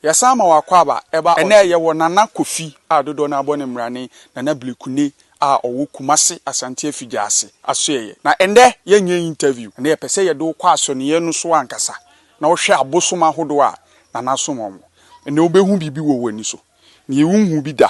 Yɛsan ma wo akwaaba ɛba ɛnɛ yɛwɔ Nana Kofi a dodoɔ no ara bɔ ne mmra ne Nana Blekune a ɔwɔ Kumase Asante Afigya ase asoɛeɛ na ɛnɛ yɛnyɛ interview ɛnɛ yɛpɛ sɛ yɛde wo kɔ asɔneɛ no so ankasa na wo hwɛ abosom ahodoɔ a Nana som wɔn ɛnɛ wo bɛhu biribi wɔ wo ani so nie wo nhuu bi da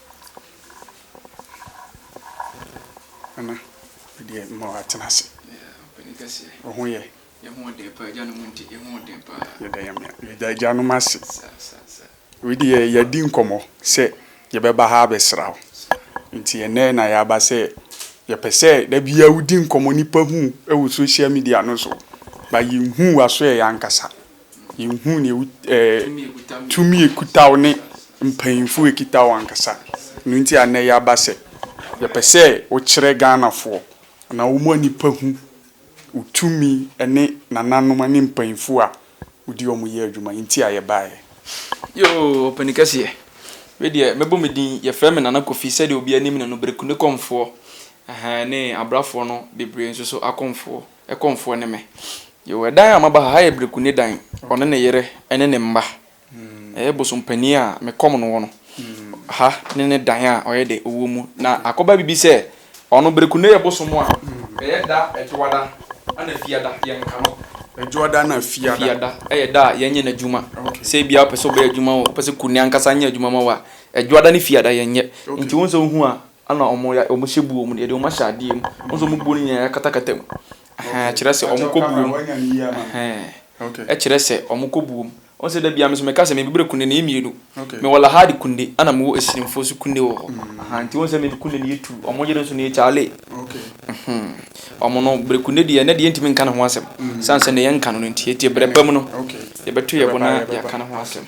Nana, me deɛ mma w'atena ase. Ɔpanin kɛseɛ. Wo ho yɛ? Yɛn ho ɔden paa, agyanom nti yɛn ho ɔden paa. Yɛda Nyame, yɛda agyanom ase. Sa, sa, sa. Wei deɛ yɛadi nkɔmmɔ sɛ yɛbɛba ha abɛsra wo. Nti ɛnnɛ na yɛaba sɛ yɛpɛ sɛ da biara wodi nkɔmmɔ nipa hu wɔ social media no so, but yɛnhuu w'aso ɛ yɛn ankasa. Yɛnhuu nea ɛwɔ ɛɛ tumi a ɛkuta wo ne mpanyimfo a ɛkuta wo ankasa. Ɛno nti a nnɛ yɛaba sɛ yɛpɛ sɛ wokyerɛ Ghanafoɔ anaa wɔn a nnipa hu wo tumi ne nananom ne mpanyimfo a wode wɔn yɛ adwuma nti a yɛbaeɛ. Yoo, ɔpanin kɛseɛ. Me deɛ, mɛbɔ me din. Yɛfrɛ me Nana Kofi sɛdeɛ obiara nim me no, Bereku ne Kɔmfoɔ. Ɛhɛɛ ne Abrafoɔ no bebree nso so Akɔmfoɔ. Ɛkɔmfoɔ ne me. Yoo ɛdan a maba ha, ha yɛ Breku ne dan. Ɔne ne yere ne ne mma. Ɛyɛ bosom panin a me kɔm no wɔ no. Ha ne ne dan a ɔyɛ dɛ ɔwɔ mu. Na akɔba bibi sɛ, ɔno Breku ne yɛ bosom a ɛyɛ da Adwoada ɛna Fiada yɛn ka no. Adwoada na Fiada. Fiada ɛyɛ da a yɛn nyɛ n'adwuma. Sɛ ebia ɔpɛ sɛ ɔbɛyɛ adwuma o, ɔpɛ sɛ Kuni ankasa nyɛ adwuma ma wo a, Adwoada ne Fiada yɛn nyɛ. Nti wo nsɛ wo hu a, Ɛna wɔn ya wɔn hyɛ buo mu no yɛde wɔn ahyɛ adeɛ mu wɔn sɛ wɔn buo no nyinaa yɛakatakata mu ɛhɛn ɛkyerɛ sɛ wɔn kɔ buo mu ɛhɛn ɛkyerɛ sɛ wɔn kɔ buo mu wɔn sɛ dabi ame so mɛka sɛ mɛ bibire kunde ne yɛ mmienu mɛ wɔ lahadi kunde ɛna mɛ wɔ esirimfoɔ so kunde wɔ hɔ ɛhɛn nti wɔn sɛ mɛ kunde ne yɛ tu wɔn yere nso ne yɛ kyaale ɛhɛn wɔn no bere kunde deɛ ɛnɛ deɛ ntumi nka ne ho asɛm san sɛ ne yɛ nka no nti yɛ ti bere bɛm no yɛ bɛto yɛ bo na yɛ aka ne ho asɛm.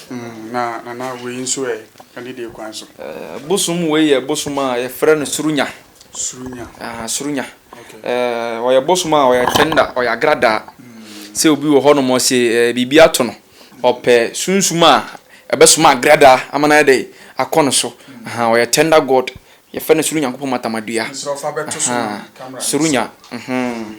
Hmm, na Nana wei nso ɛ, ɛne deɛ kwan so? Eh, bosom wei yɛ bosom a yɛfrɛ no surunya. Surunya? Ah, surunya. Okay. Eh, ɔyɛ bosom a ɔyɛ tender, ɔyɛ agradaa. Hmm. Sɛ obi wɔ hɔ nom ɔse eh, biribi ato no, ɔpɛ sunsum a ɛbɛsoma agradaa ama no ayɛ dɛ akɔ no so. Hmm. Aha, ɔyɛ tender God. Yɛfrɛ no soro Nyankopɔn matamadua. Nso ɔfa bɛto so kamera. Surunya. Mhm. Hmm.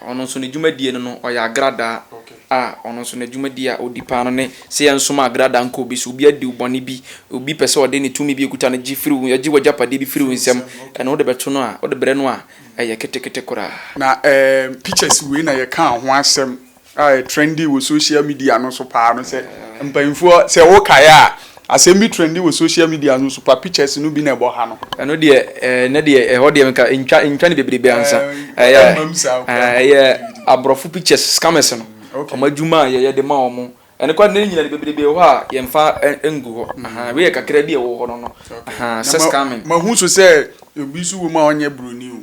Ɔno nso ne dwumadie no no, ɔyɛ agradaa a ɔno nso n'adwumadie a ɔdi paa no ne sɛ yɛnsoma agradaa nkɔ obi so. Obi adi wo bɔne bi, obi pɛ sɛ ɔde ne tumi bi ɔkuta no gye firi wo, gye w'agyapadeɛ bi firi wo nsam, ɛno wode bɛto no a, wode brɛ no a, ɛyɛ ketekete koraa. Na ɛɛm pictures wei na yɛkaa ho asɛm a ɛ trending wɔ social media no so paa no sɛ mpaninfoɔ sɛ wokaeɛ a Asɛm bi trendi wɔ social media so nso pa pictures no bi na ɛbɔ ha no. Ɛno deɛ eh, na deɛ ɛhɔ deɛ nka ntwa ntwa ne bebrebe ansa. Eh, Ɛyɛ ɛmam saa eh, koraa. ɛyɛ aborɔfo pictures scammers no. Okay. Wɔn adwuma a yɛyɛ de ma wɔn. Ɛno koraa deɛ ne nyina de bebrebe wɔ hɔ a yɛmfa ɛ ngu hɔ. Ahaa, wei yɛ kakra bi a ɛwɔ hɔ no no. Okay. Ahaa, Na sɛ ma scamming. mahu nso sɛ obi nso wɔ mu a ɔnyɛ buroni o.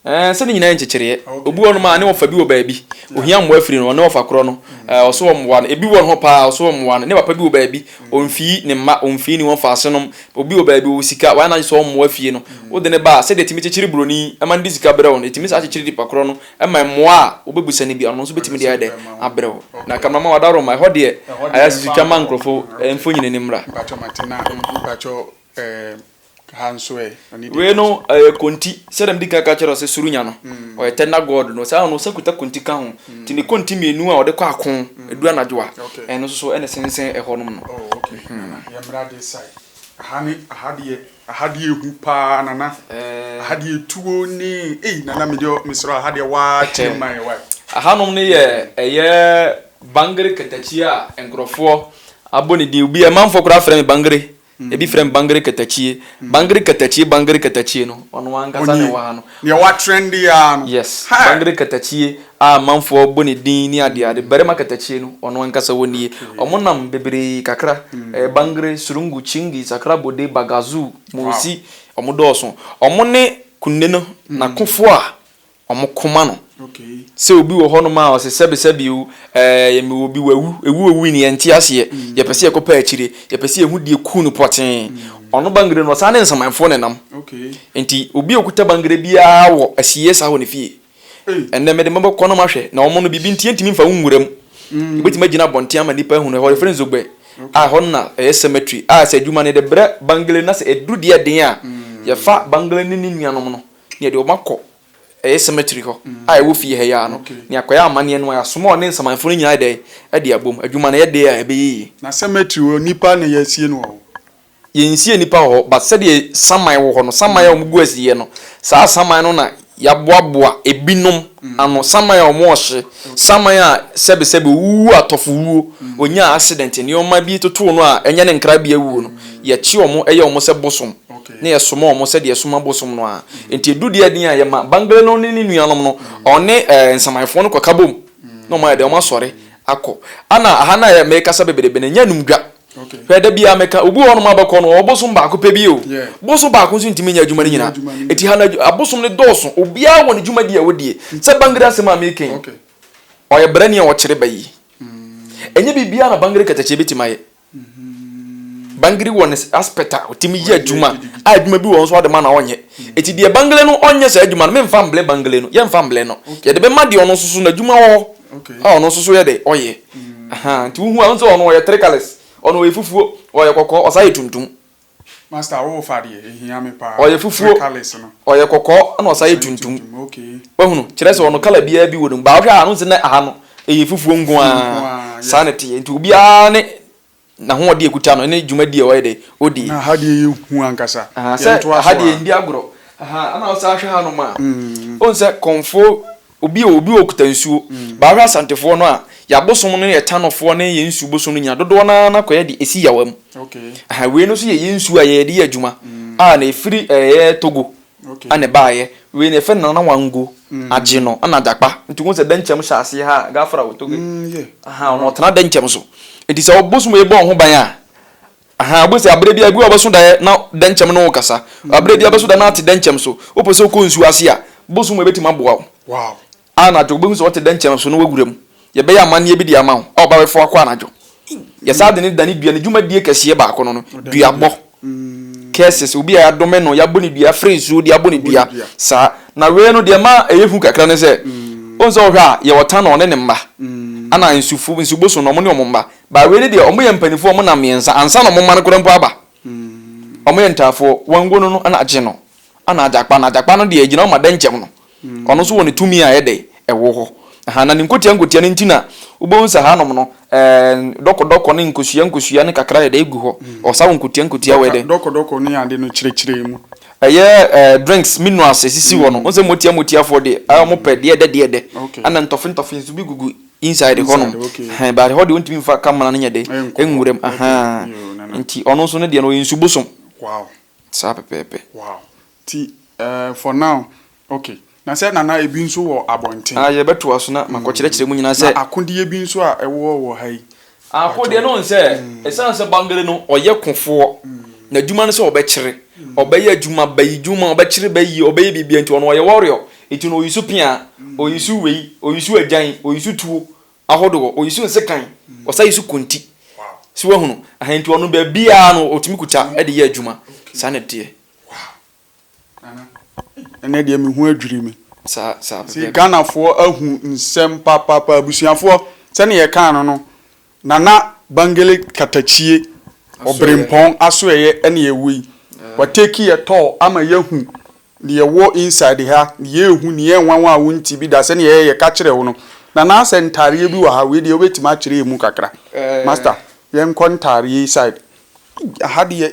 Ɛɛ, sɛ ne nyinaa yɛ nkyekyereɛ. Obi wɔ nom a, ne ɔfa bi wɔ baabi. Ohia mmoa firi no, ɔne ɔfa korɔ no. Ɛɛ, ɔso wɔ mmoa no. Ebi wɔ ne hɔ paa, ɔso wɔ mmoa no. Ne papa bi wɔ baabi, ɔmfii ne mma, ɔmfii ne wɔfa ase nom. Obi wɔ baabi, ɔwɔ sika, wayɛ n'adwene sɛ ɔremmoa fie no. Wode no ba a, sɛdeɛ ɛtumi kyekyere buroni ma no de sika brɛ wo no, ɛtumi saa kyekyere nipa korɔ no ma mmoa a wobɛbisa no bi, ɔno nso bɛtumi de ayɛ dɛn? Abrɛ wo. Na Kamaraman Wadaroma, ɛhɔ deɛ, ayɛ sɛ so twa ma nkurɔfoɔ mfonini no mmra. Ha nso ɛ? Ɔne deɛ Wei no ɛbɛkyɛ. ɛyɛ konti sɛdeɛ medi kan ka kyerɛɛ wo sɛ Surunya no ɔyɛ tɛnda god no saa ara no ɔsan kuta konti ka ho nti ne konti mmienu a ɔde kɔ ako ɛduru anadwo a Okay. ɛno nso so ɛna ɛsensɛn ɛhɔ nom no. Oh okay Nana yɛmmra this side aha ne aha deɛ aha deɛ ɛhu paa Nana aha deɛ tuo ne ei Nana me deɛ mesrɛ wo aha deɛ waa kyerɛ mu ma yɛn wai. Aha nom no yɛ ɛyɛ Bangere katakyie a nkorɔfoɔ abɔ ne din obi a manfoɔ koraa frɛ me Bangere. Ebi frɛ no Bangere Katakyie, Bangere Katakyie, Bangere Katakyie no, ɔno ankasa na ɛwɔ ha no. Onii, deɛ watrɛnde yi ara no. Yes, Bangere Katakyie a amanfoɔ bɔ ne din ne adeade, Barima Katakyie no, ɔno ankasa wɔ nie. Wɔnam bebree kakra, ɛyɛ Bangere, Surungu, Kyingi, Sakra Bode, Bagazuu, Munsi, wɔdɔɔso. Wɔne Kunne no, n'akofoɔ a wɔn koma no. Sɛ obi wɔ hɔnom a ɔsɛ sɛbesɛbe o, ɛɛ mewɔ bi wawu, ewu owu ni yɛnte aseɛ, mm. yɛpɛ sɛ yɛkɔ pɛ akyire, yɛpɛ sɛ yɛhu deɛ ku no pɔtee. Mm. Ɔno bangere no ɔsan ne nsamanfoɔ ne nam. Nti obi a okuta bangere biara wɔ asieɛ saa wɔ ne fie. Ɛnɛ mede mɛbɔ kɔ nom ahwɛ na wɔn no biribi nti yɛntumi mfa wɔn nwura mu. Mm. Ebɛtumi agyina abɔnten ama nnipa ahunu ɛhɔ yɛfrɛ nzogbɛ a ɛhɔ no na ɛyɛ cemetery a sɛ adwuma no yɛde brɛ bangere na sɛ ɛduru deɛ den a mm. yɛfa bangere ne ne nuanom no Na yɛde wɔn akɔ ɛyɛ cemetery hɔ a ɛwɔ fie ha yi ara no, na yɛakɔyɛ amanneɛ no ara. Yɛasoma wɔn ne nsamanfoɔ no nyinaa ayɛ dɛn? Ɛde abom. Adwuma no, ɛyɛ dɛ a, ɛbɛyɛ yie. Na cemetery hɔ, nnipa na yɛasie no wɔ hɔ? Yɛnsiee nnipa wɔ hɔ, but sɛdeɛ saman wɔ hɔ no, saman a wɔgu asieɛ no, saa saman no na yɛaboaboa ebinom ano. Saman a wɔhye, saman a sɛbesɛbe ɔwuwu atɔfowuo, ɔnyaa accident, nneɛma bi totoo no a ɛnyɛ ne nkrabea wuo no, yɛkye wɔn yɛ wɔn sɛ bosom. na yɛsoma wɔn sɛdeɛ yɛsoma bosom no ara. Enti ɛdu deɛ den a, yɛma Bangla no ne ne nuanom no, ɔne ɛɛ nsamanfoɔ no kɔka bom, na wɔayɛ dɛn, wɔasɔre akɔ. Ɛna aha no a merekasa bebrebe no, ɛnyɛ anum dwa. Hwɛ, da biara meka, obi wɔ hɔnom a bɛkɔ no, ɔwɔ bosom baako pɛ bi o. Bosom baako nso ntumi nyɛ adwuma no nyinaa. Enti ha no, abosom no dɔɔso. Obiara wɔ ne dwumadie a ɔdie. Sɛ Bangla asɛm a mereka yi, ɔyɛ brani a ɔkyere ba yie. Ɛnyɛ biribiara na Bangla katakye bɛtumi ayɛ. Bangiri wɔ ne aspect a ɔtumi yɛ adwuma a adwuma bi wɔ nso ɔde ma na ɔnyɛ. Eti deɛ Bangiri no ɔnyɛ saa adwuma no, menfa mble Bangiri no, yɛnfa mble no. Yɛde bɛma deɛ ɔno nso so n'adwuma wɔ hɔ a ɔno nso so yɛ dɛ ɔyɛ. Aha, nti wohu a, wohu sɛ ɔno ɔyɛ three colours, ɔno ɔyɛ fufuo, ɔyɛ kɔkɔɔ, ɔsan yɛ tuntum. Master wo fa deɛ ɛhia me paa. Ɔyɛ fufuo, ɔyɛ kɔkɔɔ ɛna ɔsan yɛ tuntum. Wahunu? Kyerɛ sɛ ɔno colour biara bi wɔ ne mu but wohwɛ a wonhu sɛ nnɛ aha no ɛyɛ fufuo nko ara. Saa na ɛteɛ nti obiara ne n'ahoɔden a ɛkuta no ɛne dwumadie a ɔyɛ dɛ ɔdi. Na aha deɛ yɛ hu ankasa. Aha sɛ aha deɛ yɛndi agorɔ. Aha ɛna wosan hwɛ hanom a wohu sɛ kɔmfoɔ Obi o, obi o kuta nsuo. Baa hwɛ Asantefoɔ no a, yɛn abosom no yɛ Tanofoɔ ne yɛn nsuo bosom no nyinaa dodoɔ no ara kɔyɛ de si Yawa mu. Aha, wei no nso yɛ yɛn nsuo a yɛyɛ de yɛ adwuma a na ɛfiri ɛyɛ Togo na ɛbaeɛ. Wei no yɛfrɛ no Nana Wango agye no na Adakpa. Nti wohu sɛ Dɛnkyɛm hyɛ aseɛ ha a, Gafra o Togo yi, aha, ɔno ɔtena Dɛnkyɛm so. Nti sɛ ɔbosom yi bɔ wo ho ban a, Ahaa, wobɛhu sɛ aberɛ biara, bi a ɔbɛso daeɛ na dɛnkyɛm ne wo kasa. Aberɛ biara ɔbɛso daeɛ na ate dɛnkyɛm so. Wopɛ sɛ wokɔ nsuo ase a, bosom mu ɛbɛtumi aboa wo. Anadwo, wobɛhu sɛ wote dɛnkyɛm so na woawura mu. Yɛbɛyɛ amanneɛ bi de ama wo a ɔba bɛfa wo akɔ anadwo. Yɛ saa ade no dane dua. Ne dwumadie kɛseɛ baako no no, duabɔ, curses, obi a yɛadome no, yɛabɔ no dua, yɛafra nsuo de abɔ no dua, saa. Na wei no, deɛ ɛma ɛyɛ hu kakra ne sɛ, wohu sɛ wohwɛ a, yɛwɔ Tanor ne ne mma, ɛna Nsufo, Nsuboson no, wɔn ne wɔn mma, But wei ne deɛ ɔmo yɛ mpaninfoɔ ɔmo nam mmiɛnsa ansa na ɔmo mma no koraa mpo aba ɔmo yɛ ntaafoɔ wango no no ɛna agye no ɛna agyakpa no agyakpa no deɛ ɛgyina hɔ ma dɛnkyɛm no ɔno nso wɔ ne tumi a ɛyɛ dɛ ɛwɔ hɔ ahaa na ne nkotia nkotia no nti na wobɛhu sɛ haa nom no ɛɛn dɔkɔ dɔkɔ ne nkosua nkosua ne kakra yɛ dɛ egu hɔ ɔsa wɔ nkotia nkotia wɔ yɛ dɛ Dɔkɔ dɔkɔ ne ade no kyerɛkyerɛ mu. Ɛyɛ ɛɛ drinks minerals ɛsisi hɔ no wohu sɛ motia motiafoɔ deɛ ɛɛ ɔmo pɛ deɛ ɛdɛ deɛ ɛdɛ okay ɛna ntɔfe ntɔfe nso bi gugu Inside hɔ nom ɛhɛn but ɛhɔ deɛ ɔntumi nfa camera no nyɛ dɛ ɛnwuram ahaa nti ɔno nso ne deɛ no ɔyɛ nsu bosom saa pɛpɛɛpɛ. Wow nti ɛɛ for now ok na sɛ nana ebi nso wɔ abɔnten. Aa yɛbɛtoa so na makɔ kyerɛkyerɛ mu nyinaa sɛ. Na akodeɛ bi nso a ɛwɔ wɔ ha yi. Aako deɛ ne ɔn sɛ ɛsiane sɛ Bangele no ɔyɛ kofoɔ, n'adwuma ne sɛ ɔbɛkyere, ɔbɛyɛ adwuma, bayi dwuma, ɔbɛkyere bayi, ɔbɛyɛ biribiara nti ɔno ɔyɛ warrior, nti no ɔyisu peaa, ɔyisu wei, ɔyisu agyan, ɔyisu tuo ahodoɔ, ɔyisu nsekan, ɔsa yisu konti. So wahunu? Aha nti ɔno baabiara no ɔtumi kuta de yɛ adwuma. Saa na ɛteɛ. Ɛnɛ deɛ me ho adwiri me. Saa saa pɛpɛɛpɛ. See Ghanafoɔ ahu nsɛm papaapa abusuafoɔ sɛnea yɛkaa no no Nana Bangele Katakyie Ɔbrempɔn asoɛeɛ ɛna yɛwɔ yi Wa take yɛ tour ama yɛahu deɛ ɛwɔ inside ha deɛ ɛhu deɛ ɛnwanwa a wonte bi da sɛnea ɛyɛ yɛka kyerɛ wo no Nana sɛ ntaareɛ bi wɔ ha wei deɛ wobɛtumi akyerɛ yɛn mu kakra Master yɛnkɔ ntaareɛ yi side Ei aha deɛ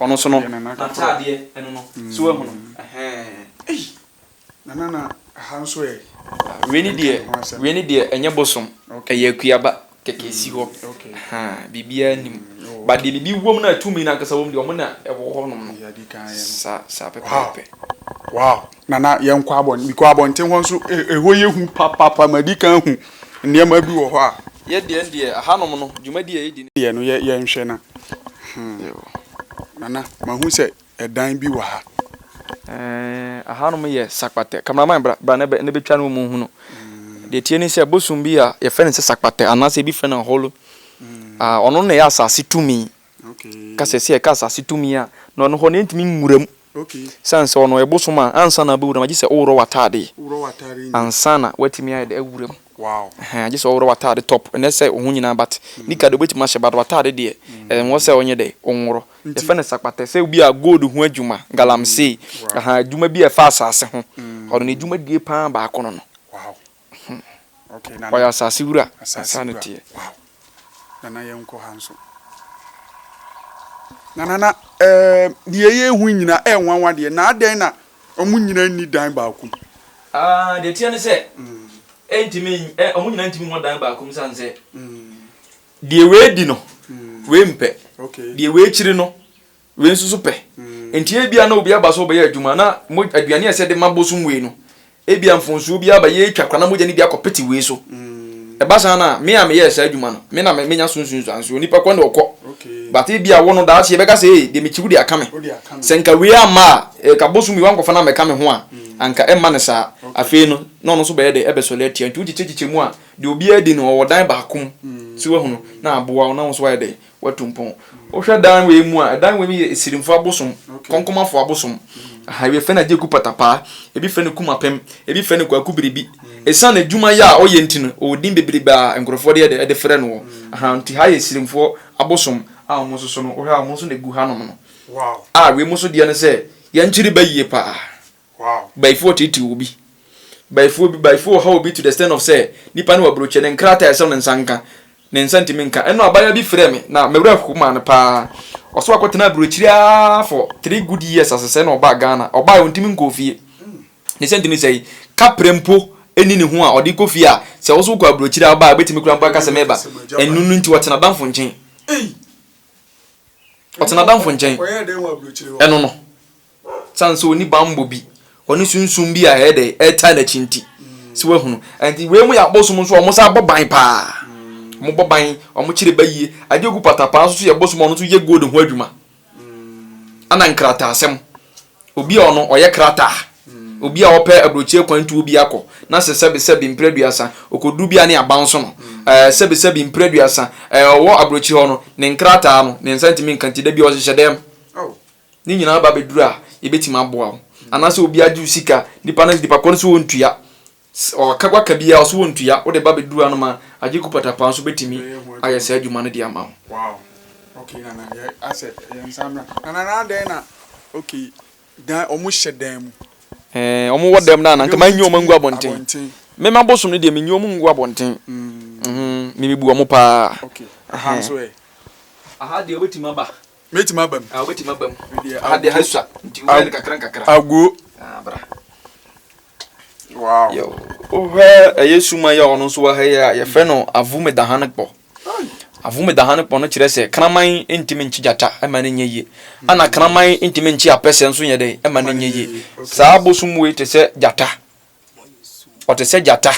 Ɔno nso no n'ataadeɛ ɛno no so wahu no ɛhɛɛ. Ei nana na ha nso ɛ. Wei ne deɛ wei ne deɛ ɛnyɛ bosom ɛyɛ akuaba kɛkɛ ɛsi hɔ ahaa biribiara nnim but deɛ biribi wɔ mu no a tumi no ankasa wɔ mu deɛ wɔn na ɛwɔ hɔ nom no saa saa pɛpɛɛpɛ. Wow wow. Nana yɛnkɔ abɔn mekɔ abɔnten hɔ nso ɛ ɛhɔ yɛ hu papapa madi kan ahu nneɛma bi wɔ hɔ a. Yɛ deɛ no deɛ ahanom no dwumadie a yɛdi deɛ no yɛ yɛnhwɛ na hmm Nana mahu sɛ ɛdan bi wɔ ha. Ɛɛh ahanom yɛ sakpatɛ camera man bra bra na bɛ na bɛtwa na wɔn nhunu deɛ ɛteɛ ne sɛ bosom bi a yɛfrɛ no sɛ sakpatɛ anaa sɛ ɛbi frɛ no aholo ah ɔno na ɛyɛ asase tumi ka sɛ sɛ yɛka asase tumi a na ɔno hɔ no yɛntumi nwura mu Ɛsiane sɛ ɔno ɔyɛ bosom a, ansa na wobɛwura mu no, gye sɛ woworɔ w'atadeɛ ansa na woatumi ayɛ dɛ awura mu. Ɛhɛn, gye sɛ woworɔ w'atadeɛ, top, ɛno ɛsɛ wo ho nyinaa but nika deɛ wobɛtumi ahyɛ but w'atadeɛ deɛ, ɛwɔ sɛ wonyɛ dɛ, wonworɔ. Yɛfrɛ no sakpatɛ. Sɛ bi a gold ho adwuma, galamsey, ɛhaa, adwuma bi a ɛfa asase ho, ɔno n'adwumadie pa ara baako no no. Hmm. Okay, nana. Ɔyɛ asase wura. Asase wura. Teɛ. Wow. Nana yɛn nkɔ ha nso. Na nana ɛɛ deɛ yɛ ehu nyina ɛɛ nwanwa deɛ na adɛn na wɔn nyina nni dan baako mu. Ah, deɛ teɛ ne sɛ. Mm. Ɛntumi ɛ wɔn nyina ntumi wɔ dan baako mu san sɛ. Mm. Deɛ wei di no. Mm. Wei mpɛ. Okay. Deɛ wei kyiri no. Wei nso so pɛ. Nti ebia na obi aba sɛ ɔbɛyɛ adwuma na aduane a ɛsɛ de ma bosom wei no, ebia mfonsuo bi aba, yɛretwa kwa na mogya no bi akɔpete wei so. Ɛba saa no a, me a meyɛɛ saa adwuma no, me na menya so nsunsuansoɔ. Onipa kɔ na ɔkɔ. But ebia wo no, daakye yɛbɛka sɛ, ee, deɛ mekyi wo deɛ aka me. Sɛ nka wei amma a, nka bosom wei wankɔfa no ammɛka me ho a, anka ɛmma no saa. Afei no, na ɔno nso bɛyɛ dɛ? Ɛbɛsɔre atia. Nti wokyekyɛkyekyɛ mu a, deɛ obiara di no, ɔwɔ dan baako mu. So woahunu? Na aboa wo na wo nso woayɛ dɛ? Watu mpɔn. Wohwɛ dan wei mu a, ɛdan wei mu yɛ Asirimfo abosom, Kɔnkɔmafo abosom. Aha, ebi fɛ no Agyeku Patapaa, ebi fɛ no Kumapem, ebi fɛ no Kwaku Biribi. Esiane adwuma yɛ a ɔyɛ nti no, ɔwɔ din bebrebe a nkurɔfoɔ de yɛ de frɛ noɔ. Aha, nti ha yɛ Asirimfoɔ abosom a wɔn nso so no, wohwɛ a wɔn nso na ɛgu hanom no. A wei mu nso deɛ ne sɛ, yɛn nkyiri ba yie paa. Bayifoɔ ɔteetee obi. Bayifoɔ bi, bayifoɔ ɔhaw obi to the extent of sɛ, nipa no wɔ aburokyire, ne nkrataa a ɛsɛ sɛ ne nsa nka, ne nsa ntumi nka. Ɛno abaayewa bi frɛɛ me, na me werɛ ho maa no paa. Ɔso akɔtenaa aburokyire ara for three good years ase sɛɛ na ɔbaa Ghana. Ɔbaeɛ, ɔntumi nkɔɔ fie. Ne sɛ ntumi sɛe, kaprɛ mpo nni ne ho a ɔde kɔ fie a, sɛ wo so wokɔ aburokyire a, ɔbaa a, ɔbɛtumi koraa mpo aka sɛ mereba. Ɛno no nti, ɔte n'adamfo nkyɛn. Ɔte n'adamfo nkyɛn. Ɛno no, Ɔsan so ɔni banbɔ bi, ɔne sunsum bi a ɛyɛ dɛ ɛretaa n'akyi nti. So wahunu? Nti wei mu yɛ abosom nso a wɔsan bɔ ban paa. Wɔbɔ ban, wɔkyere ba yie. Adeɛ ɔgu patapaa nso so yɛ bosom a ɔno nso yɛ gold ho adwuma. Ɛna nkrataasɛm. Obi a ɔno ɔyɛ krataa. Obi a ɔpɛ aburokyire kwan tuo bi akɔ na sɛ sɛbesɛbe mprɛ aduasa ɔkɔduru bi a ne aban so no ɛɛ sɛbesɛbe mprɛ aduasa ɛɛ ɔwɔ aburokyire hɔ no ne nkrataa no ne nsa ntumi nka nti da biara ɔhyehyɛ dɛm. Ne nyinaa ba bɛ duru a yɛbɛtumi aboa wo anaasɛ obi agye wo sika nipa no nipa kɔ no so wɔntua ɔka waka biara ɔso wɔntua wode ba bɛduru anom a agye ku patapaa nso bɛtumi ayɛ saa adwuma no de ama wo. Wow okay nana yɛ asɛ yɛ nsa mmra nana na adɛn na okay dan ɔmo hyɛ dan mu. Ɛɛ ɔmo wɔ dɛm na na nka manyi ɔmo angu abɔnten me ma bosom no deɛ menyi ɔmo ngu abɔnten mm me bebu ɔmo paa okay aha nso ɛ aha deɛ wobɛtumi aba. Mɛtumi aba mu. Ah, wobɛtumi aba mu. Medeɛ Ha deɛ ha sua nti wobɛyɛ no kakra nkakra. Aguo. Ah, bra. Wow. Yo, wohwɛ ɛyɛ suma yi a ɔno nso wɔ ha yi a yɛfrɛ no Avumedahanekpɔ. Avumedahanekpɔ no kyerɛ sɛ kraman ntumi nkye gyata ɛma no nyɛ yie. Ɛna hmm. kraman ntumi nkye apɛsɛ nso nyɛ dɛ ɛma no nyɛ yie. Saa abosom wei te sɛ gyata. ɔte sɛ gyata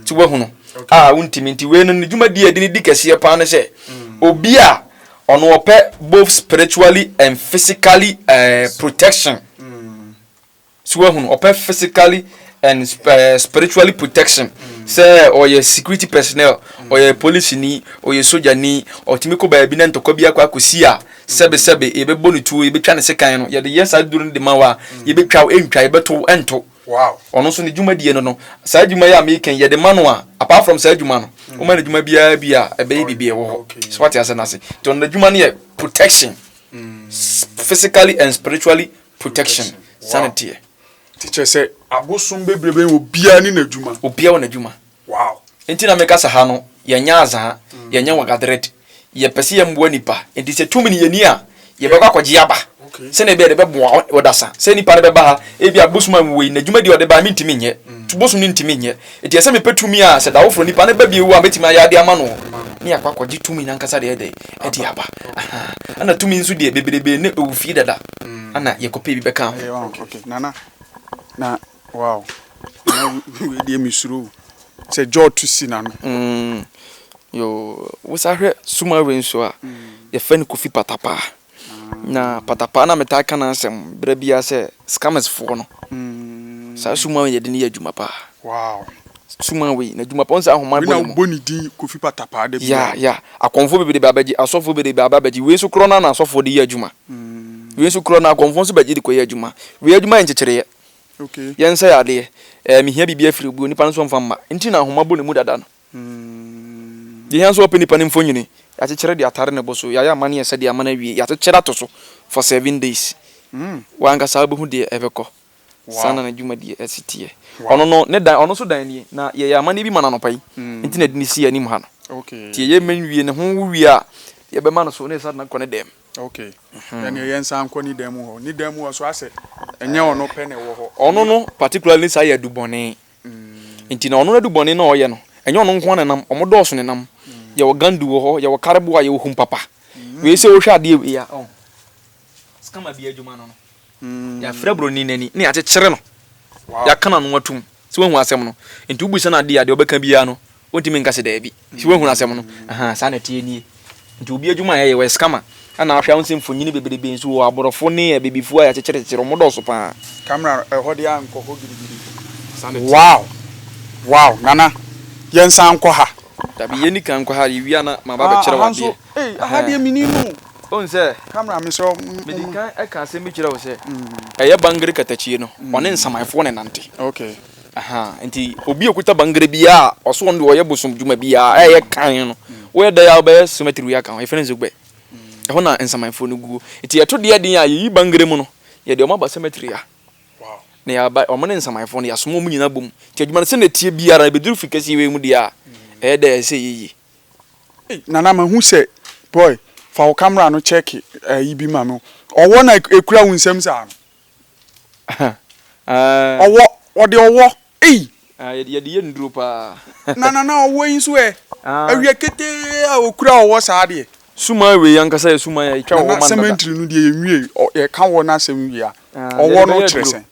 ti wahunu a wontumi nti wei no ne dwumadi a ɛde ne di kɛseɛ paa ne sɛ mm. obi a ɔno ɔpɛ both spiritually and physically uh, protection mm. so wahunu ɔpɛ physically and uh, spiritually protection mm. sɛ ɔyɛ security personnel ɔyɛ police ni ɔyɛ soja ni ɔtumi kɔ baabi na ntɔkwa bi akɔ akɔsi a sɛbesɛbe yɛbɛbɔ ne tuo yɛbɛtwa ne sekan no yɛde yɛ saa duro no de ma wo a yɛbɛtwa wo ɛntwa yɛbɛto ɛnto Wow. Ɔno nso ne dwumadie no no, saa adwuma yi a meka yi yɛde ma no a, apart from saa adwuma no, mm. woma no adwuma biara bi a ɛbɛyɛ oh, biribi ɛwɔ hɔ. So wate asɛ no ase. Nti ɔno n'adwuma no yɛ protection. Mm. Physically and spiritually protection. Sane teɛ. Ti kyerɛ sɛ abosom bebrebe wɔ biara ne n'adwuma. Obiara wɔ n'adwuma. Wow. Ntsi na mekasa ha no, yɛnnyɛ adze a yɛnyɛ wɔ Gadred. Yɛpɛ sɛ yɛmboa nyimpa. Ntsi sɛ tum no yɛnni a, yɛbɛkɔ akɔgye aba. Sɛnea ebɛyɛ dɛ ɛbɛboa wo wɔ dasa. Sɛ nyimpa no bɛba ha, ebia bosoom a nwowei na dwumadie a ɔde ba a menntumi nnyɛ. So bosoom no nntumi nnyɛ. Ntsi ɛsɛ mepɛ tumi a sɛ dawofo nyimpa no ba bio a mɛtumi ayɛ ade ama no. Ne yɛakɔ akɔgye tumi no ankasa de ayɛ dɛn? De aba. Ahaa. Ana tumi nso deɛ, bebrebee no ɛwɔ fie dada. Ana yɛkɔpɛ bi bɛka ho. Nana, na Wow na wei deɛ me suro sɛ jaw to si n'ano. Mm, yo wosa hwɛ suma wei nso a mm. yɛfɛ no kofi patapaa mm. na patapaa na metaa ka n'asɛm berɛ biara sɛ scammers foɔ no mm. saa suma wei yɛde ne yɛ adwuma paa wow. suma wei na adwuma paa ɔnsɛ ahoma bɔ ne mu bɔ ne din kofi patapaa da bia ya ya akɔmfo bebree ba abɛgye asɔfo bebree ba abɛgye wei nso korɔ na na asɔfo de yɛ adwuma mm. wei nso korɔ na akɔmfo nso bɛgye de kɔ yɛ adwuma wei adwuma yɛ nkyekyereɛ Yɛnsɛe adeɛ. Ɛɛ, mehia biribi afiri obi, onipa no nso mfa mma. Nti na nhoma bɔ ne mu dada no. Deɛ ɛhia nso wɔpɛ nipa no mfonini, yɛakyekyere de atare ne bo so, yɛayɛ amaneɛ sɛdeɛ ama no awie, yɛakyekyere ato so for seven days. Wo ankasa wobɛhu deɛ ɛbɛkɔ. Saa na n'adwumadie si teɛ. Ɔno no, ne dan, ɔno nso dan nie, na yɛyɛ amaneɛ bi ma no anɔpa yi, nti na yɛde no si yɛn anim ha no. Nti yɛyɛ ma no wie, ne ho wo wie a, yɛbɛma no so na yɛsan de no akɔ ne dan mu. Ok ɛneɛ yɛn san nkɔ ne dan mu hɔ ne dan mu hɔ so asɛ ɛnyɛ ɔno pɛ na ɛwɔ hɔ ɔno no particularly saa yɛ adubɔne mm. nti na ɔno no adubɔne na ɔyɛ no ɛnyɛ ɔno nko na nam ɔmo dɔɔso ne nam mm. yɛwɔ gandu wɔ hɔ yɛwɔ kareboa yɛwɔ humpapa mm. wei sɛ wohwɛ adeɛ wei a oh. skama bi adwuma no no Yɛafura buroni no ani na yɛakyekyere no, yɛaka n'ano atom. So woahu asɛm no? Enti wobisa no ade a, deɛ ɔbɛka biara no, wontumi nka sɛ daabi. So woahunu asɛm no? Ahaa, saa na ɛteɛ nie. Enti obi adwuma a yɛyɛ, wɔyɛ scammer. Ɛnna ahwɛ a wohu sɛ mfonini bebrebe nso wɔ hɔ, aborɔfo ne abibifo a yɛakyekyerekyekyere, wɔdɔɔso pa ara. Camera no, ɛhɔ deɛ ankɔ hɔ gidigidi. Saa na ɛteɛ. Wow! Wow! Nana, yɛnsan nkɔ ha. Dabi, yɛnni kan nkɔ ha, yɛwie a na maba abɛkyerɛ wo adeɛ. Aha nso, ei, aha deɛ mennim o. Ohu sɛ, camera me sɔ mm mm. Medi kan ɛka asɛm bi kyerɛ wo sɛ. Ɛyɛ bangere katakyie no, ɔne nsamanfoɔ na ɛnante. Okay. Ahaa, nti obi a ɔkuta bangere biara a ɔse ɔno deɛ ɔyɛ bosom dwuma biara a ɛyɛ kann no, woyɛ dɛn a wobɛyɛ cemetery aka ho, yɛfrɛ no Zogbe. Ɛhɔ na nsamanfoɔ no guo. Nti yɛto deɛ den a, yɛyi bangere mu no, yɛde wɔn aba cemetery ha. Wow. Na yɛaba, wɔn ne nsamanfoɔ no, yɛasoma wɔn nyinaa abom. Nti adwuma no sɛdeɛ ɛteɛ biara no, ɛbɛduru Firi Kɛseɛ wei mu deɛ a, ɛyɛ dɛ a ɛsɛ sɛ yɛyie. Ei nana mahu sɛ boy fa wo camera no check ayi bi ma me ɔwɔ na ekura wo nsam saa no ɔwɔ ɔde ɔwɔ ei. Ah yɛde yɛ nnuro paa. Na nana ɔwɔ yi nso ɛ awia ketee a okura ɔwɔ saa deɛ. Suman wei ankasa yɛ suman a etwa ɔwɔ ma no dada. Nana cementry no deɛ yɛ nwie yɛ ka ɔwɔ no asɛm wie a ɔwɔ no kyerɛ sɛn.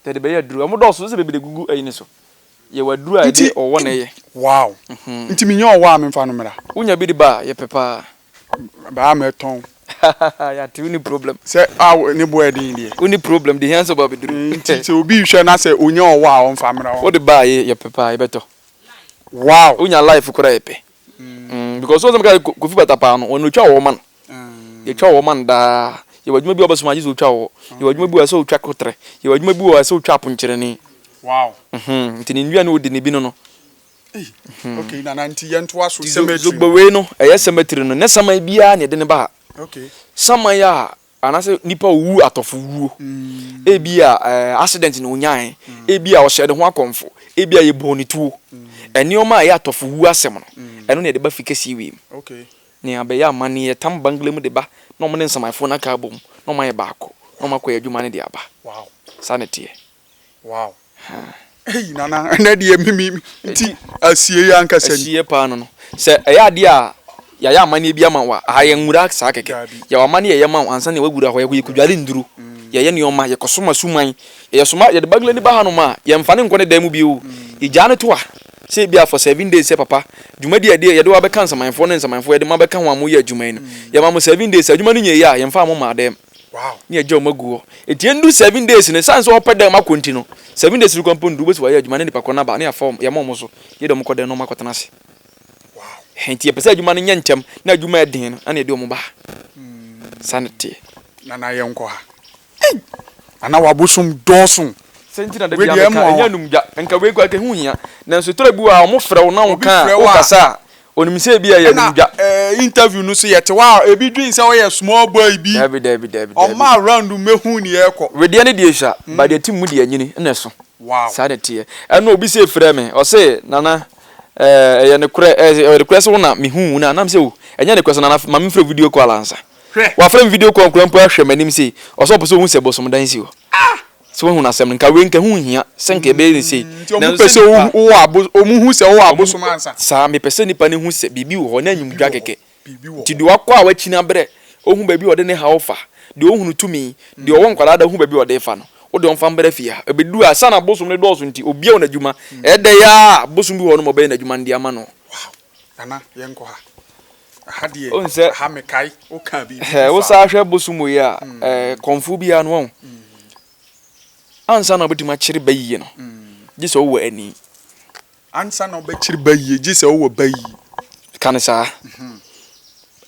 Yɛde bɛyɛ aduru. Wɔn dɔɔso sɛ bebree gugu ayi no so. Yɛwɔ aduru a yɛde ɔwɔ na ɛyɛ. Wow! Nti minya ɔwɔ a menfa no mmra? Wonya bi de ba a, yɛpɛ paa. Baa mɛtɔn. Yɛate wonni problem. Sɛ a ne bo yɛ den deɛ. Wonni problem deɛ ehia ne sɛ ɔba abeduru. Nti sɛ obi rehwɛ na sɛ onya ɔwɔ a ɔmfa mmra hɔ. Wode ba a yɛpɛ paa, yɛbɛtɔ. Wow! Wonya life koraa a yɛpɛ. Mm because so sɛ meka kofi bata paa no wɔn na otwa wɔ man. Yɛtwa wɔ man daa. Yɛ wɔ adwuma bi a ɔbɛsoma agye sɛ otwa wɔ. Yɛ wɔ adwuma bi wɔ ɛsɛ otwa kotrɛ. Yɛ wɔ adwuma bi wɔ ɛsɛ otwa aponkyerɛni. Wow. Mhm nti ne nnua ne odi ne bi no no. Ei mhm. Okay nana nti yɛn to aso cemetery. Zogbe wei no ɛyɛ cemetery no nyɛ saman biara na yɛde ne ba ha. Okay. Saman a Anaasɛ nipa owu atɔfo wuo. Ebia accident na onyae, ebia ɔhyɛɛ ne ho akɔmfo, ebia yɛbɔɔ no tuo. Nneɛma a ɛyɛ atɔfo wuo asɛm no, ɛno na yɛde ba fikɛseɛ wei mu. Nea ɛbɛyɛ amanneɛ, yɛtam Bangla mu de ba na wɔne nsamanfoɔ no aka abom na wɔayɛ baako na wɔakɔyɛ adwuma no de aba. Saa na ɛteɛ. Wow. Ei nana ɛnɛ deɛ mimi nti asie yɛ ankasa ni. Asie paa no no. Sɛ ɛyɛ adeɛ a yɛayɛ amaneɛ bi ama wo a, aha yɛ nwura saa kɛkɛ. Yɛwɔ amaneɛ yɛyɛ ma wo ansa na woawura hɔ. Yɛkɔ yɛkɔdware nnuro, yɛyɛ nneɛma, yɛkɔsom asuman. Yɛyɛ soma, yɛde Baguilani ba hanom a, yɛmfa no nkɔ ne dan mu bio. Yɛgyaa no to a, sɛ ebia for seven days sɛ papa, dwumadi a yɛde wo abɛka nsamanfoɔ ne nsamanfoɔ a yɛde mo abɛka ho a moyɛ adwuma yi no, yɛma mo seven days. Sɛ adwuma no nyɛɛ yie a, yɛmfaa mo mmaa dan mu. ne agya wɔn agu hɔ eti endu seven days no san sɛ ɔpɛ dɛm akɔ nti no seven days no kɔ mpo ndu wobɛsi wɔayɛ adwuma ne nipa kɔ no aba ne yɛafa wɔn yɛama wɔn so yɛ dɛm kɔ dɛm na wɔn akɔtena ase hɛn nti yɛpɛ sɛ adwuma no nyɛ ntɛm na adwuma yɛ den no ɛna yɛde wɔn ba ha saa na teɛ. na na yɛn kɔ ha ei ana wabosom dɔɔso. sɛ nti na dabi ameka ɛnyɛ anum dwa nka wei kɔ ɛka ho hia nanso tɔrɔ bi wɔ a wɔn frɛ wo na wɔn ka a wɔn kasa a Onim sɛ ebi a ɛyɛ no dwa. Ɛna interview no so yɛte hɔ a ebi dwen sɛ ɔyɛ small boy bi. Dabi dabi dabi dabi. Ɔmma around mmɛhu nea ɛrekɔ. Wedeɛ no deɛ sua, but deɛ ɛte mu deɛ ɛnyini na ɛso. Wow. Saa na ɛteɛ. Ɛna obi se frɛ me, ɔse Nana eh, ɛyɛ nokorɛ, eh, ɛyɛ nokorɛ sɛ wo na mehuu wo no a? Nam se o, ɛnyɛ nokorɛ sɛ Nana ma memfrɛ video call ansa. Hwɛ. Wafrɛ me video call koraa mpo ahwɛ m'anim sei, ɔse ɔpɛ sɛ ɔhu sɛ bosomdan si hɔ. Ah! Sɛ woahu no asɛm no, nka wei nka ɛho nhia sɛ nka yɛbɛyɛ no sei. Nti ɔmo pɛ sɛ wowɔ abosom, ɔmo hu sɛ wowɔ abosom ansa. Saa, mepɛ sɛ nipa no hu sɛ biribi wɔ hɔ, na enyim dwa kɛkɛ. Nti deɛ wakɔ a wakyi no abrɛ, ohu baabi a ɔde ne haw fa, deɛ ohunu tumi, deɛ ɔwɔ nkwadaa da hu baabi a ɔde refa no, wo deɛ ɔmfa mbrɛ fie ha. Ebedu ha, esiane abosom no dɔɔso nti, obiara wɔ n'adwuma, ɛyɛ dɛ yi ara a, abosom bi wɔ hɔ nom a ɔbɛyɛ n'adwuma no de ama no. Nana yɛnkɔ ha. Aha deɛ Wohu sɛ- aha mekae wokaa biribi Hɛ, bi wo faa saa ho. hwɛ bosom wei a, eh, kɔmfo biara no, wahu. Ansa na wobɛtumi akyere ba yie no, gye sɛ wowɔ ani. Ansa na wobɛkyere ba yie gye sɛ wowɔ ba yie. Ka no saa.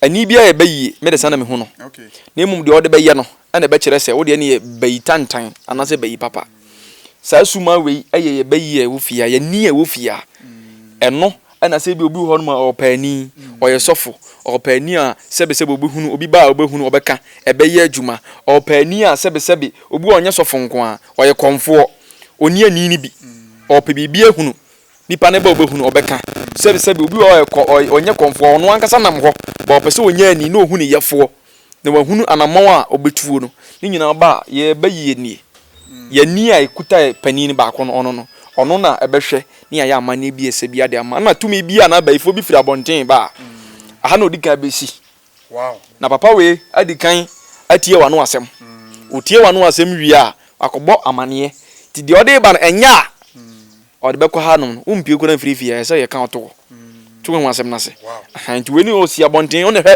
Ani biara yɛ ba yie, me de saa na mehu no. Okay. Na mmom deɛ ɔde bɛyɛ no, na ɛbɛkyerɛ sɛ wo deɛ no yɛ bayitantan anaasɛ bayipapa. Saa suma wei yɛ yɛ bayi a ɛwɔ fie ha, yɛn ni a ɛwɔ fie ha. Ɛno na sɛ ebi obi wɔ hɔnom a ɔyɛ ɔpaani, ɔyɛ sɔfo, ɔyɛ ɔpaani a sɛbesɛbe ɔbɛhunu obi ba a ɔbɛhunu, ɔbɛka, ɛbɛyɛ adwuma, ɔyɛ ɔpaani a sɛbesɛbe obi wɔ a ɔnyɛ sɔfo nko ara, ɔyɛ kɔmfoɔ, ɔnni ani no bi, ɔrepɛ biribi ahunu, nipa no ba a ɔbɛhunu, ɔbɛka, sɛbesɛbe obi wɔ hɔ a ɔyɛ kɔ, ɔyɛ, ɔnyɛ kɔmfoɔ, ɔno ankasa nam hɔ, but ɔpɛ sɛ ɔnya ani na ɔhu ne yɛfoɔ. na wahunu anammɔn a ɔbɛtuo no, ne nyinaa ɔba a, yɛbɛyi yɛn nie. Yɛn ani a ɛkuta panin no baako no, ɔno no, ɔno na ɛbɛhwɛ ne ayɛ amanneɛ bi a ɛsɛ biara de ama. Ɛna tumi bi anaa bayifoɔ bi firi abɔnten ba a, aha na ɔdi kan bɛsi. Na papa wei adi kan atie w'ano asɛm. Ɔtie w'ano asɛm wie a, wakɔbɔ amanneɛ. Nti deɛ ɔde reba no, ɛnyɛ a ɔde bɛkɔ hanom no, wompue koraa mfiri fie ha, ɛsɛ sɛ yɛka ɔto hɔ, to ho asɛm no ase. Aha, nti wei ne ɔsi abɔnten, wo na hwɛ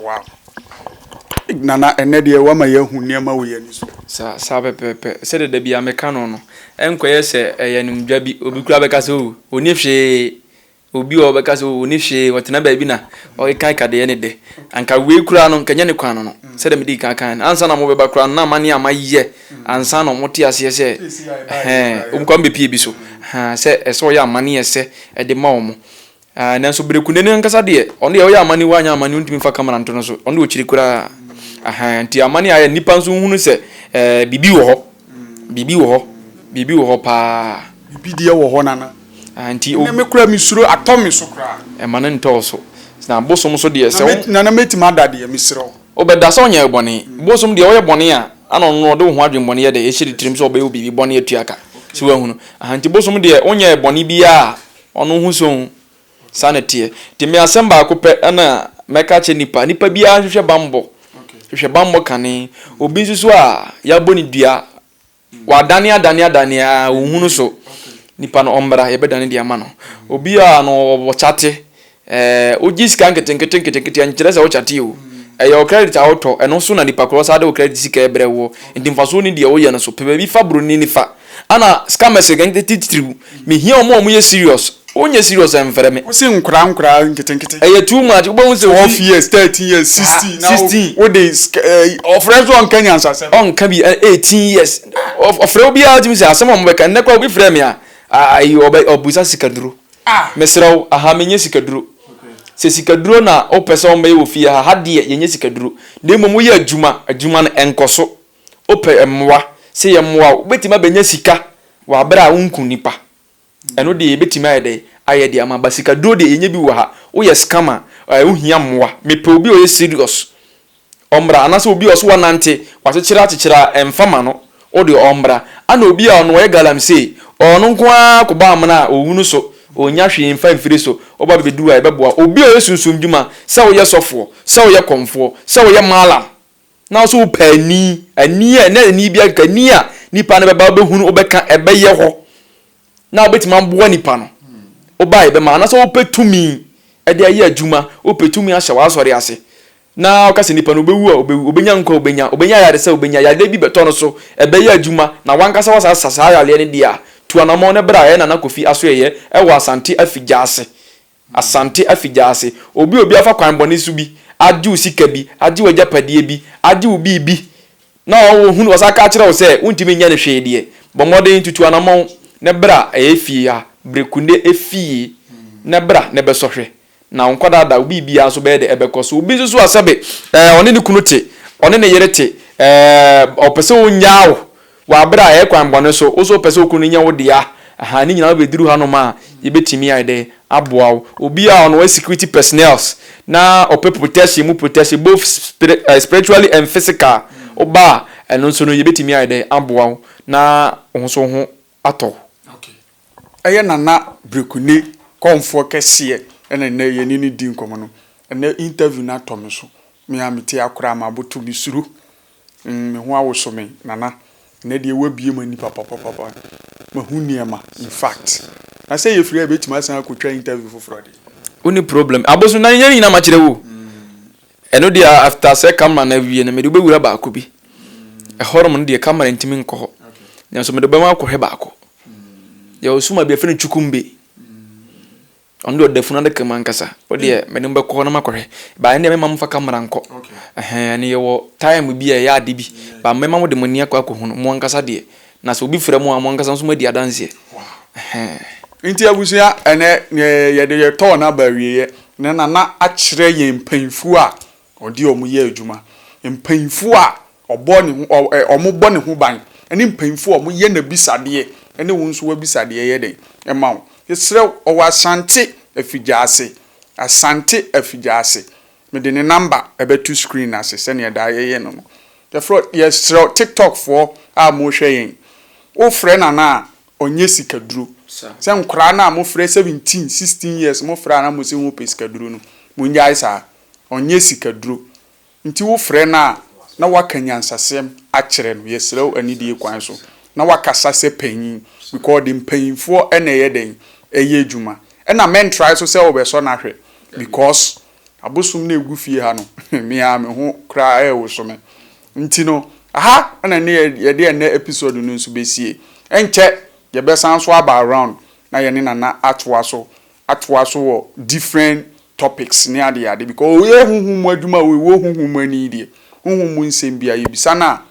Wow Nana ɛnɛ deɛ wama yɛahu nneɛma wɔ yɛn ani so. Saa saa pɛpɛɛpɛ sɛdeɛ da biara meka no no ɛnkɔyɛ sɛ ɛyɛ animdwa bi obi koraa bɛka sɛ oh ɔnni hwee obi wɔ hɔ ɔbɛka sɛ oh ɔnni hwee ɔtena baabi na ɔkeka deɛ ne dɛ anka wei koraa no anka ɛnyɛ ne kwan no no sɛdeɛ medii kan kaeɛ no ansa na mobɛba koraa no na amanneɛ a mayɛ ansa na wɔte aseɛ sɛ ɛhɛn wɔn koraa mobɛpie bi so ha sɛ ɛsɛ ɔyɛ amanneɛ sɛ ɛde ma wɔn Aah nanso Berekunde no ankasa deɛ, ɔno deɛ ɔyɛ amane wanyɛ amane ɔntumi mfa camera nto no so, ɔno deɛ ɔkyiri koraa. Ahaa nti amane a ayɛ no nnipa nso nhunu sɛ eh, biribi wɔ hɔ, biribi wɔ hɔ, biribi wɔ hɔ paa. Biribi deɛ wɔ hɔ Nana. Aah nti o. Ɛnɛ me koraa mesuro atɔ me so koraa. Ɛma no ntɔ wo so. Na bosom nso deɛ sɛ wo. Nana mɛtumi ada deɛ mesrɛ wo. Wobɛda sɛ ɔnyɛɛ bɔne. Bosom deɛ woyɛ bɔne a, ana ɔno ɔde wo ho adwemmɔne yɛ dɛ, ɛhyɛ ne tirim sɛ ɔbɛyɛ wo biribi bɔne atua ka. So woahunu? Ahaa nti bosom deɛ wonyɛɛ bɔne biara a Ɔno ho sõ. Saa na ɛteɛ. Nti me asɛm baako pɛ na mɛka akyerɛ nnipa. Nnipa biara hwehwɛ bammɔ. Hwehwɛ bammɔ kane. Obi nso so a, yɛabɔ no dua. Wadane adane adane a, ɔnhunu so. Nipa no ɔmmra, yɛbɛdane de ama no. Obi a no ɔwɔ kyate, Ɛɛ, wogye sika nketenkete nketenkete, ɛnkyerɛ sɛ wokyate o. Ɛyɛ wo credit a wotɔ, ɛno nso na nipa korɔ saa de wo credit sika ɛbrɛ woɔ. Nti mfasoɔ nni deɛ woyɛ no so. Pɛ baabi fa broni no fa. Ɛna scammers titiriw, mehia wɔn a wɔyɛ serious. Wonyɛ serious a ɛmfrɛ me. Wose nkoraa nkoraa nketenkete. Ɛyɛ too much, wobɛhu sɛ obi. Twelve years, thirteen years, sixteen, na wode sika ɛɛ, ɔfrɛ nso ɔnka nyansasɛm. Ɔnka bi, eighteen years, ɔfrɛ obiara tumi sɛ asɛm a wɔbɛka, nnɛ koraa obi frɛɛ me a, ayi ɔbisa sikanuro. Mesrɛ wo, aha menyɛ sikaduro. Sɛ sikaduro na wopɛ sɛ wɔbɛyɛ wɔ fie ha, ha deɛ yɛnyɛ sikaduro. Na mmom woyɛ adwuma, adwuma no ɛnkɔ so. Wopɛ mmoa, sɛ yɛmmoa wo, wobɛtumi abɛnya sika wɔ aberɛ a wonku nnipa. Ɛno deɛ yɛbɛtumi ayɛ dɛn ayɛ de ama wo. But sikaduro deɛ yɛnyɛ bi wɔ ha. Woyɛ scammer a, wohia mmoa. Mepɛ obi a ɔyɛ serious. Ɔmbra, anaasɛ obi a ɔse ɔnantse, ɔakyekyera akyekyera a, mfa ma no, wo de ɔmbra. Ana obi a ɔno ɔyɛ galamsey, ɔno nko ara kɔbɔ amona a, owu no so, onnya hwee mfa mfiri so, ɔba bebedu a, yɛbɛboa. Obi a ɔyɛ sunsum dwuma, sɛ woyɛ sɔfoɔ, sɛ woyɛ kɔmfoɔ, sɛ woyɛ mallam, na wo so wopɛ ani, ani a, nna ani biara keka, ani a nipa no bɛba, wobɛhunu, wobɛka, ɛbɛyɛ hɔ, na wobɛtumi aboa nipa no woba yɛ bɛma anasɛ wopɛ tumi ɛde ayɛ adwuma wopɛ tumi ahyɛ w'asɔre ase na ɔka sɛ nipa no wobɛwu a wobɛwu wobɛnya nkwa wobɛnya wobɛnya yare sɛ wobɛnya yareɛ bi bɛtɔ no so ɛbɛyɛ adwuma na wankasa wasa asa saa yareɛ no deɛ a tu anamɔ no bra ɛyɛ nana kofi asoɛyɛ ɛwɔ asante afigya ase Asante afigya ase. Obi obi afa kwan bɔne so bi agye wo sika bi, agye wo agyapadeɛ bi, agye wo biribi na ɔhunu, ɔsan ka kyerɛ wo sɛ wontumi nyɛ no hwee deɛ, bɔ mmɔden tutu anamɔn na bra ɛyɛ fie ha, brekunde fie na bra na bɛsɔ hwɛ na wo nkwadaa da wo biribiara nso bɛyɛ dɛ ɛbɛkɔ so. Obi nso so a sɛbe ɛɛ ɔne ne kunu te, ɔne ne yere te, ɛɛ ɔpɛ sɛ ɔnyaa wo, Wɔ aber a yɛyɛ kwan bɔne so, wo so wɔpɛ sɛ wo kun no nyɛ wo dea, aha, ne nyina wobeduru hanom a, yebetumi ayɛ dɛn aboa wo? Obi a ɔnoa security personnels na ɔpɛ protection mu protection, both spiritually and physical, wo ba a, ɛno nso no yebetumi ayɛ dɛn aboa wo na wo ho so wo ho atɔ wo? Okay, ɛyɛ Nana Brekunne kɔmfoɔ kɛseɛ ɛna nnɛ yɛne no redi nkɔmmɔ no. Ɛnnɛ interview no atɔ me so, me a mete akora a maboto, mesuro. Mm me ho awoso me nana ɛnɛ deɛ w'abue m'ani papapapapa mahu nneɛma infact na sɛ yɛfiri ha yɛbɛtumi asan akɔtwa interview foforɔ deɛ. Wonni problem abosom na yɛn nyinaa makyerɛ wo ɛno deɛ after sɛ camera no awie no mede wobɛwura baako bi ɛhɔnom no deɛ camera ntumi nkɔ hɔ nanso mede wobɛma wakɔhwɛ baako yɛwɔ suma bi yɛfrɛ no chukumbe Ɔno deɛ ɔda funu adaka mu ankasa. Wo deɛ mm. mene mbɛkɔ hɔ na makɔ hwɛ. Ba ɛnna mɛma mo fa kamera nkɔ. Ɛhɛn ɛne yɛwɔ time bi a ɛyɛ ade bi. Ba mɛma mo de mo ani akɔ akɔ hunu mo ankasa deɛ. Na sɛ obi frɛ mo a mo ankasa nso mo adi adanseɛ. Ɛhɛn. Nti abusua ɛnɛ yɛde yɛtɔɔ n'aba awieɛ na nana akyerɛ yɛn mpanyinfoɔ a Ɔde wɔn yɛ adwuma. Mpanyimfo a ɔbɔ ne ho ɔ ɛ wɔbɔ ne ho ban ne mpanyimfo a wɔyɛ n'abisadeɛ ne wo nso w'abisadeɛ yɛ dɛn ma wo? Yɛsrɛ wo, ɔwɔ Asante Afigyaase, Asante Afigyaase. Mede ne namba bɛto screen no ase sɛdeɛ daa yɛyɛ no no. Yɛfrɛ wo, yɛsrɛ wo, Tiktokfoɔ a morehwɛ yɛn yi, wofrɛ Nana a, ɔnyɛ sikaduro. Sɛ nkwadaa no a mofrɛ seventeen, sixteen years mofrɛ a na mose mopɛ sikaduro no, monnyae saa. ɔnyɛ sikaduro nti wo frɛ no a na waka nyansasɛm akyerɛ no yɛsrɛ wo anidie kwan so na wakasa sɛ panyin because ɔde mpanyinfoɔ na ɛyɛ dɛn ɛyɛ adwuma ɛna mɛntrae so sɛ wobɛsɔ no ahwɛ because abosom na ɛgu fie ha no me ara me ho koraa ɛrewoso me nti no aha na ne yɛde ɛnɛ episode no nso bɛsie ɛnkyɛ yɛbɛsan so aba around na yɛne Nana atoa so atoa so wɔ different topics ne ade ade because ɔyɛ honhom mu adwuma a ɔwɔ honhom mu ani deɛ honhom mu nsɛm biara yɛbisa no a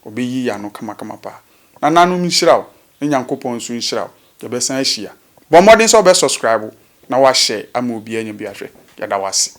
ɔbɛyi y'ano kamakama paa nananom nhyira wo ne Nyankopɔn nso nhyira wo yɛbɛsan ahyia bɔ mmɔden sɛ wobɛ subscribe na wa share ama obiara anya bi ahwɛ yɛda wo ase.